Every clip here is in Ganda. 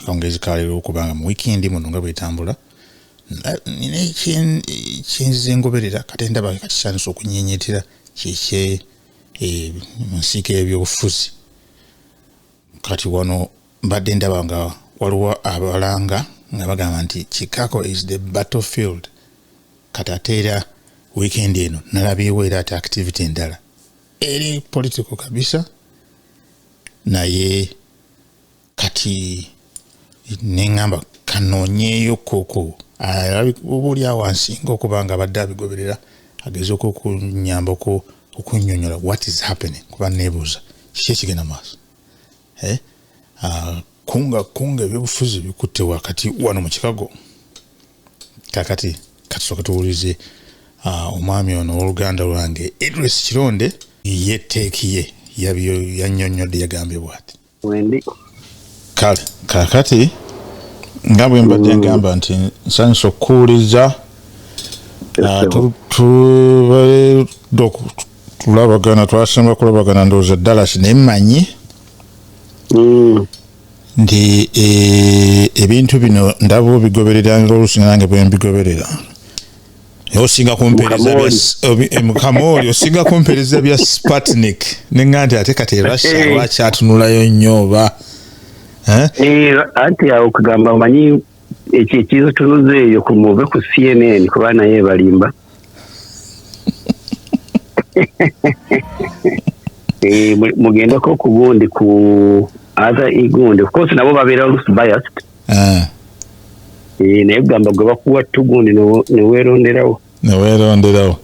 akawungeezi ka leero okubanga mu wiikendi muno nga bwetambula nina ekyenzize ngoberera kate ndaba kakisanyusa okunyenyetera kyekye eh, mu nsiika ebyobufuzi kati wano mbadde ndaba nga waliwo abalanga nga bagamba nti chicago is the battlefield kati ate era wiikendi eno nalabyewo era ate activity endala eri political kabisa naye kati neŋamba kanonyeyo koko oba oli awo ansinga okuba nga abadde abigoberera agezeko okunyambako okunyonyola what is happening kuba nebuuza kiki ekigenda maaso eh? ah, kunga kunga ebyobufuzi bikutte wakati wano mu kikago kakati katusooke tuwulize ah, omwami ono owoluganda lwange edris kironde ye teeki ye yanyonyodde yagambye bwati wendi kale kakati nga bwe mbadde mm. ngamba nti nsanyusa okukuwuliza ah, tulabagana twasemba kulabagana ndowooza dallas naye mmanyi mm. nti eh, ebintu bino ndaba obigoberera ngaolusinga nange bwembigoberera osinga kumpereza bya eh, mukamooli osinga kumpereza bya spatnik nenga nti ate kati erussia eh. lwaki atunulayo nnyo oba eh? anti awo kugamba omanyi ekyo ekizitunuza eyo kumuve ku cnn kuba naye ebalimba mugendeko ku gundi ku other igundi of course nabo babeera biased Eh. Eh, naye gamba gwe bakuwa tugundi neweronderawo neweronderawo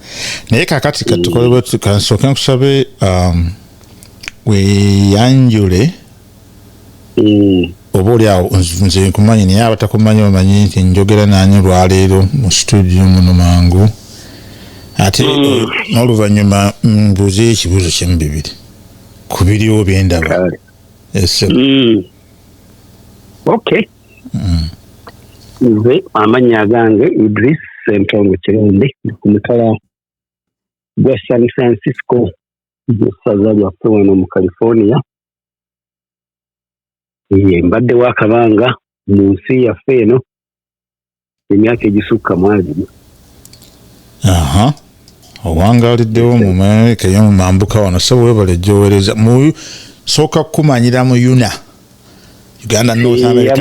naye kakati katukolekansoke mm. nkusabe um, weyanjule mm. oba oli awo nze nkumanyi naye abatakumanyi bamanyi nti njogera nanyi olwaleero mu situdio muno mangu ate mm. eh, n'oluvannyuma mbuuze ekibuuzo kyemu bibiri ku biriwo byendaba esebo eh, okay mm. nze amannya agange idris sentongo kirunde ku mutala gwa san francisco mu ssaza lyaffe wano mu california mbadde wakabanga mu nsi yaffe eno emyaka egisukka mu abiri aha owangaliddewo mu amerika eyo mu mambuka wano sebo webale gyowereza mu sooka kukumanyira mu yuna uganda north eh, america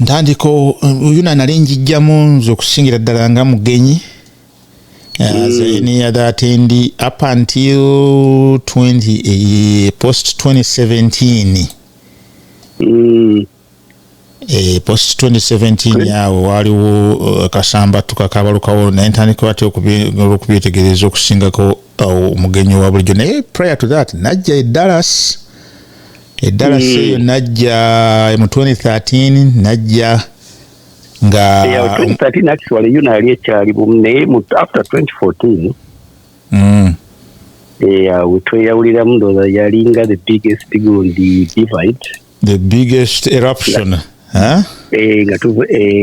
ntandika yuna nali njijjamu nze okusingira ddala nga mugenyi Uh, mm. so any other attendee up until 20 uh, eh, post 2017 mm. Eh, post 2017 awo waaliwo eh, kasamba tukakabalukawo naye ntandika batya okubyetegereza okusingako eh, omugenyi wa bulijjo naye prior to that najja edalas edalas hmm. eyo najja mu 2013 najja nga tweyawuliramu ndoza yalinga the biggest gundi divide the biggest eruption eh, eh,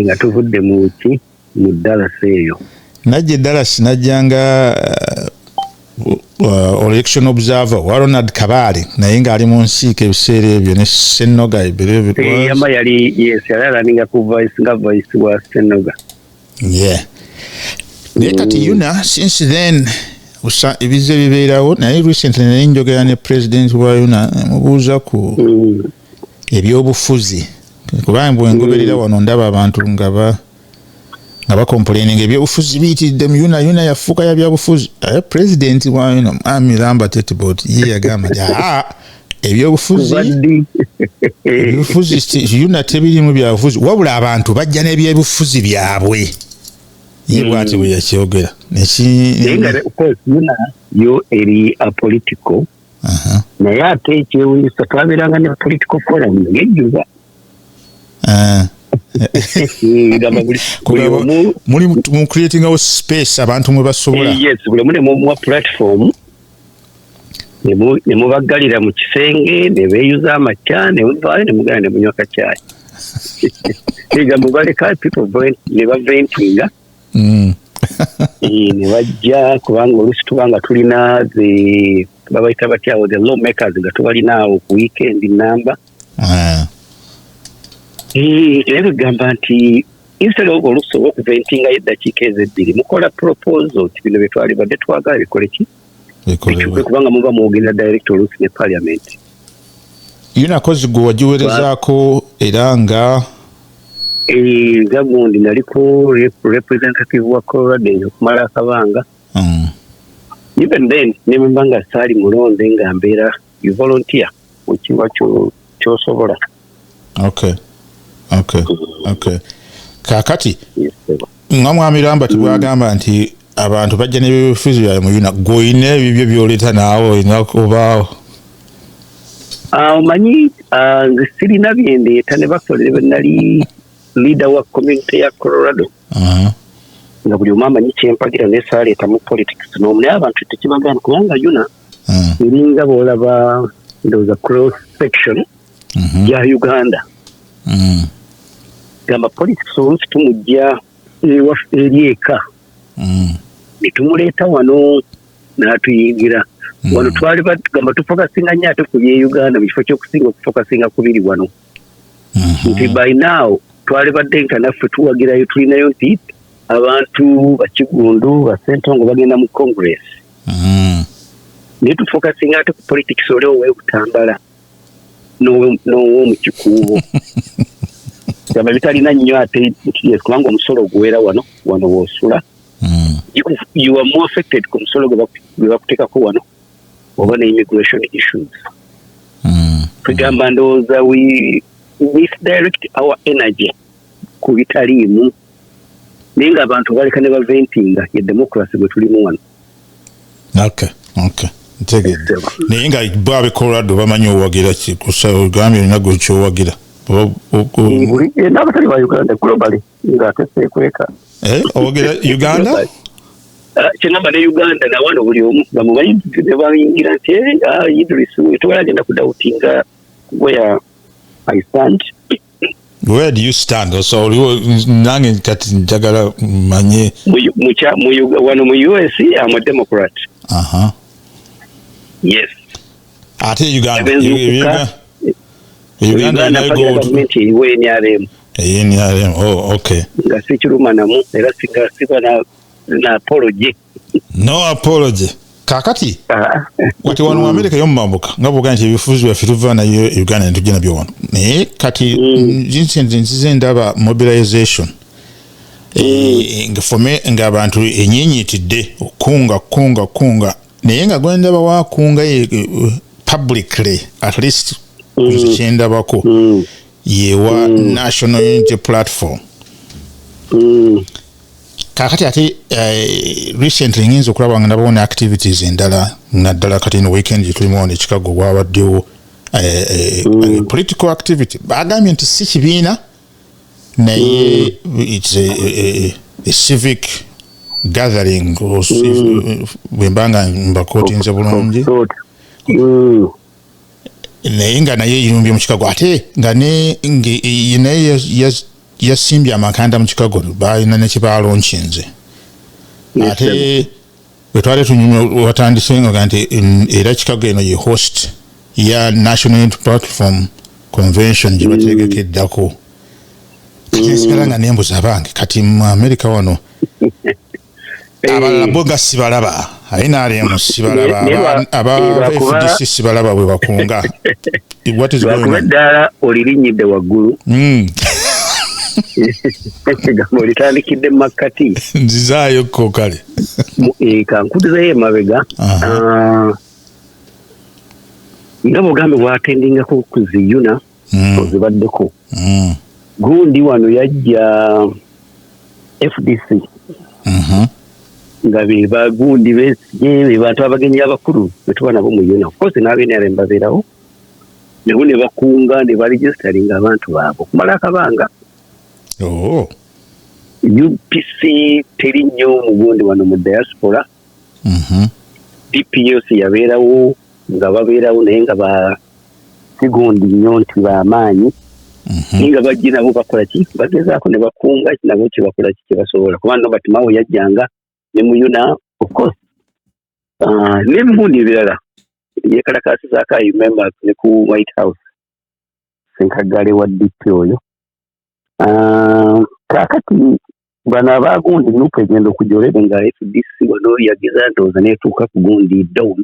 nga tuvudde muki mu dallas eyo najja edallas najjanga uh, uh, election observer wa ronald kabaale naye ngaali mu nsiika ebiseera ebyo ne senoga yama yali yes yali alaninga ku vice nga vice wa senoga yeah naye kati mm. yuna since then usa ebiza ebibeerawo naye recently naye njogera ne president wa yuna mubuuza ku mm. ebyobufuzi kubanga bwengoberera mm. wano ndaba abantu nga ba nga bakomplaininga ebyobufuzi biyitiridde mu yuna yuna yafuuka ya byabufuzi aye president wa yuna mwami lamba tetbot ye yagamba nti aa ebyobufuziuna tebirimu byabufuzi wabula abantu bajja n'ebyobufuzi byabwe ye bwati bwe yakyogera yo eri apolitical naye ate ekyewunyisa twabeeranga ne political forum ngejjuza ah. muli mu creatingawo space abantu mwe basobola eh, yes buli omu nemuwa platform ne mubaggalira mu kisenge ne beeyuza amakya ne muvaayo ne mugenda ne munywa kacaayi ega mubaleka people ne baventinga mm. eh, ne bajja kubanga oluusi tuba nga tulina the babayita batyawo the law makers nga tubalinaawo ku weekend namba ah. eh, naye begamba nti instead of olusi oba okuventinga yo eddakiika ezo ebbiri mukola proposo nti bino bye twalibadde twagala bikole ki bituke kubanga muba mwogerera direct olusi ne parliament yunakozi gwe wagiwerezaako era nga eh, nza gundi naliko representative wa coloradin okumala akabanga mm. even then ne bwemba nga saali mulonde nga mbeera you volunteer wekiwa kyosobola okay okay mm. okay kakati nga mwamiramba tibwagamba mm. nti abantu bajja nebyobufuzi byabwe muyuna gweolina ebibyo byoleta naawe olina kubaawo ah, omanyi ah, nze sirina byendeeta ne basolere benali leader wa community ya colorado nga buli omu amanyi kyempagira naye saaleetamu politics nomu naye abantu tekibagana kubanga yuna Mm. eringa bwolaba ndowooza cross section Mhm. ya uganda Mm. gamba police tusobola oluusi tumujja ewaffe eri eka Mm. netumuleeta wano n'atuyingira Mm. wano twali batugamba tufokasinga nnyo ate ku bye uganda mu kifo ky'okusinga okufokasinga ku biri wano Mhm. nti by now twali badde nka naffe tuwagirayo tulinayo nti abantu bakigundu basentongo bagenda mu congress mm. naye tufokasinga ate ku politics oli owekutambala n'owomukikuubo gamba bitalina nnyo ate kubanga omusolo oguwera wano wano wosula mm. you are more affected ku musolo gwe bakuteekako wano oba ne immigration issues mm. kwegamba ndowooza we misdirect our energy ku bitaliimu naye nga abantu baleka ne baventinga ye democracy gwe tulimu wano okay okay ntegedde naye nga bo abe colorado bamanyi owagira ki kusagambye olina gwe kyowagira eh, n'abatali ba uganda globally nga ateseekweka eh, owagira uganda ah, kyengamba ne uganda nawano buli omu bamubayi nebayingira nti eh, ah, idris tewala agenda kudawutinga where i stand where do you stand so oliwo nange kati njagala manye wano mu us am a democrat uh -huh. yes ate uganda uganda nrm nrm oh okay nga sikiruma namu era siba na apology no apology kakati ah. kati wano mu amerika yomumambuka nga bwoga nti ebifuzi byaffe tuva nayo e uganda netujja nabyo wano naye kati vincent mm. nzize ndaba mobilization eh, ngafome ngaabantu enyinyitidde okunga kunga kunga naye nga gwendaba wakunga eh, publicly at least mm. kyendabako mm. yewa mm. national unity platform mm. kakati ate uh, recently ngenza okulaba nga nabawo ne activities endala naddala kati no weekend gyetulimu ono ekikago bwabaddewo uh, eh, uh, eh, mm. political activity bagambye nti si kibiina naye mm. its a, a, a, a civic gathering mm. bwembanga mbakotinze bulungi mm. naye nga naye yerumbye mu kikago ate nga ne e, naye yasimbye amakanda mu kikago balina nekyebalonkinze ate wetwali tunyumya watandise nga nti era kikago eno ye host ya national unity platform convention gyebategeka eddako kati nsigala nga nembuza abange kati mu amerika wano Eh, abalala bo nga sibalaba nrm sibalaba aba eh, fdc sibalaba bwe bakunga lwakuba eddaala olirinyidde waggulu hmm. egambo litandikidde mu makkati nzizaayo ko kale eh, kankudizayo emabega ah, nga bugambe bwatendingako ku ziyuna mm. ozibaddeko mm. gundi wano yajja fdc mm -hmm. nga be bagundi be bantu abagenyi abakulu betuba nabo mu yona ofcourse n'abenera mbabeerawo nabo ne bakunga ne baregistaringa abantu baabo okumala akabanga oh. upc teri nnyo mugundi wano mu diaspora Mhm. DPS yabeerawo nga babeerawo naye nga ba sigundi nnyo nti bamaanyi mhm. naye nga bajje nabo bakola ki bagezaako ne bakunga nabo kyebakola ki kyebasobola kuba no batimawo yajjanga ne muyuna ofcourse ah, nebibundi ebirala yekalakasizaako imembers ne ku white house senkaggale wa dp oyo ah, kakati bano abagundi nupu egenda okujolere nga fdc wano yagiza ndowooza netuuka ku gundi down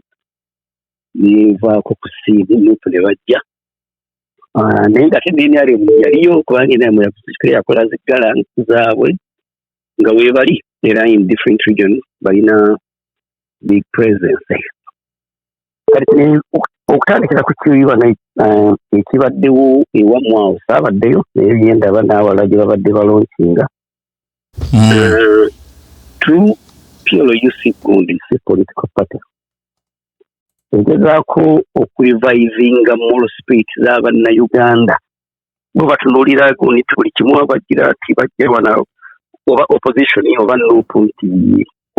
nevaako ku siimu nupu ne bajja ah, naye nga tenenrm yaliyo kubanga enrm yakusikira yakola ziggala zaabwe nga weebali era in different region balina big presence kati eh, okutandikira ku kiyiba eh, ekibaddewo ewamu awo saabaddeyo naye yendaba n'awala gye babadde balonkinga hmm. eh, true pluc gundi si political party egezaako okulivivinga moral spirit za bannayuganda bo batunuulira nti buli kimu abagira nti bajja wana oba opposition oba nup nti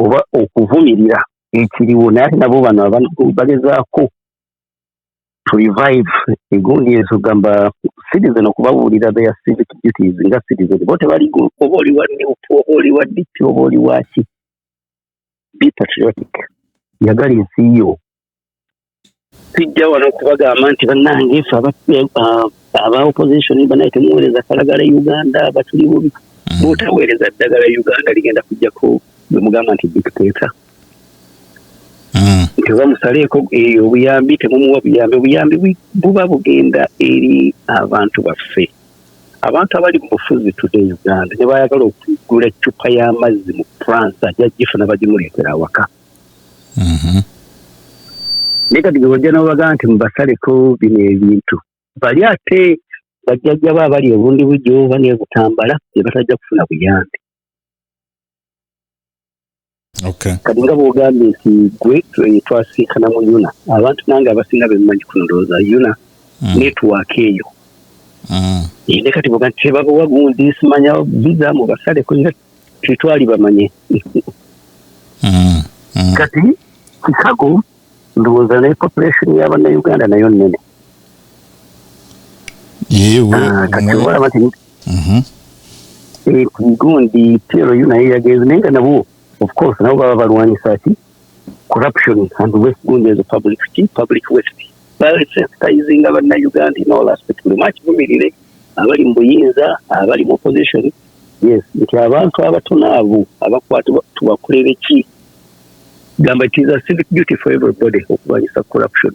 oba okuvumirira ekiriwo naye ate nabo bano bagezaako to revive egundi ezo gamba citizen okubabuulira their civic duties nga citizen bo tebali oba oli wa nup oba oli wa dp oba oli waki be patriotic yagala ensi yo sijja wano kubagamba nti bannange fe aba uh, opposition banaye temuweereza kalagala e uganda batuli bubi mm. bwotaweereza ddagala e uganda ligenda kujjako bwemugamba nti dictator nti oba musaleeko eh, obuyambi temumuwa buyambi obuyambi buba bugenda eri abantu baffe abantu abali mu bufuzi today e uganda ne bayagala okugula eccupa y'amazzi mu france ajja gifuna bagimuleetera awaka mhm. naye kati gewajja nobaga nti mubasaleko bino ebintu bali ate bajjajjabo abali ebundi bujo oba nebutambala ne batajja kufuna buyambi kati nga bwogambye nti gwe eh, twasinkana mu yuna abantu nange abasinga bemumanyi ku ndowooza yuna mm. netiwaaka eyo mm. eh, ne kati boga nti tebabawa gundi simanya biza mu basale kuira tetwali bamanye mm. kati kikago ndowooza ne population ya bannayuganda nayo nnene ah, kati olaba nti mhm. eh, gundi plu naye yagenze naye nga nabo of course nabo baba balwanyisa ki corruption and west gundi as a public ki public west balsensitizinga bannayuganda in all aspect buli mwaki bumirire abali mu buyinza abali mu opposition yes nti abantu abatono abo abakwatibwa tubakulebe ki gamba it is a civic duty for everybody okulwanyisa corruption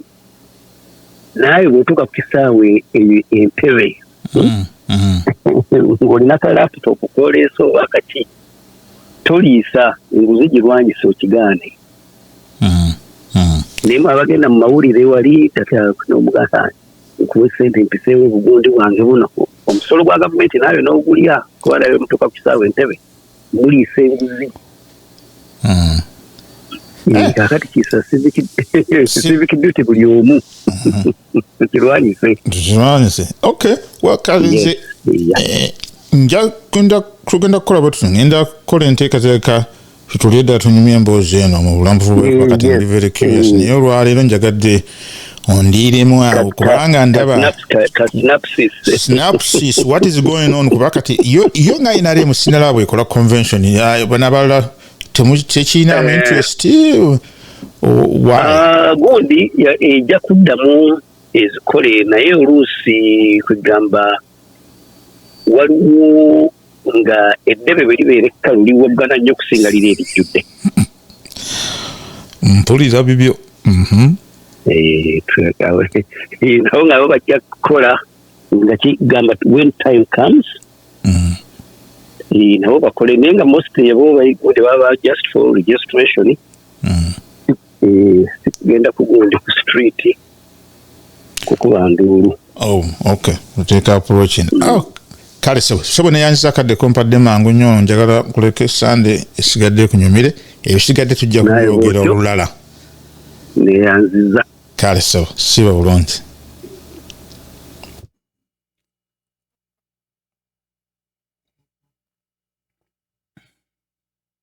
naawe bwotuuka ku kisaawe eyo empere mm, mm. ng'olina ka laptop kwoleesa oba kaki toliisa enguzi girwanyisa okigaane mm, naye mwe abagenda mu mawulire wali tatnomugasa nkuwa esente mpiseewo obugundi bwange buno omusolo gwa gavumenti naayo n'ogulya kuba nayo mutuuka ku kisaawe entebe muliisa enguzi hmm. eh, eh. kakati kisa civic duty buli omu hmm. tukirwanyise tukirwanyise okay wakalize eh, nja kugenda kukola batutu ngenda kukola enteekateeka tutulie ddala tunyumya emboozi eno mu bulamu bwebakati ndi very curious naye olwaleero njagadde ondiiremu awo kubanga ndaba snapsis what is going on kuba kati yo nga nrm sinalaba bwekola convention banabalala tekirinamu eh. interest uh, ah, gundi ejja kuddamu ezikole naye oluusi kwegamba uh, waliwo nga eddebe bwe libeera ekkalu liwoggana nnyo okusinga liri erijjudde mpulira bibyo mhm. eh, eh, nabo nga bo bajja kukola nga kigamba when time comes mhm. eh, nabo bakole naye nga most yabo bayigode baba just for registration mhm. genda kugundi ku street kukuba nduulu oh, okay oteeka approachin mm. oh, kale sebo sebo neyanziza akadde kompadde mangu nnyo njagala kuleka esande esigadde kunyumire ebisigadde tujja kubyogera olulala neyanziza kale sebo siba bulungi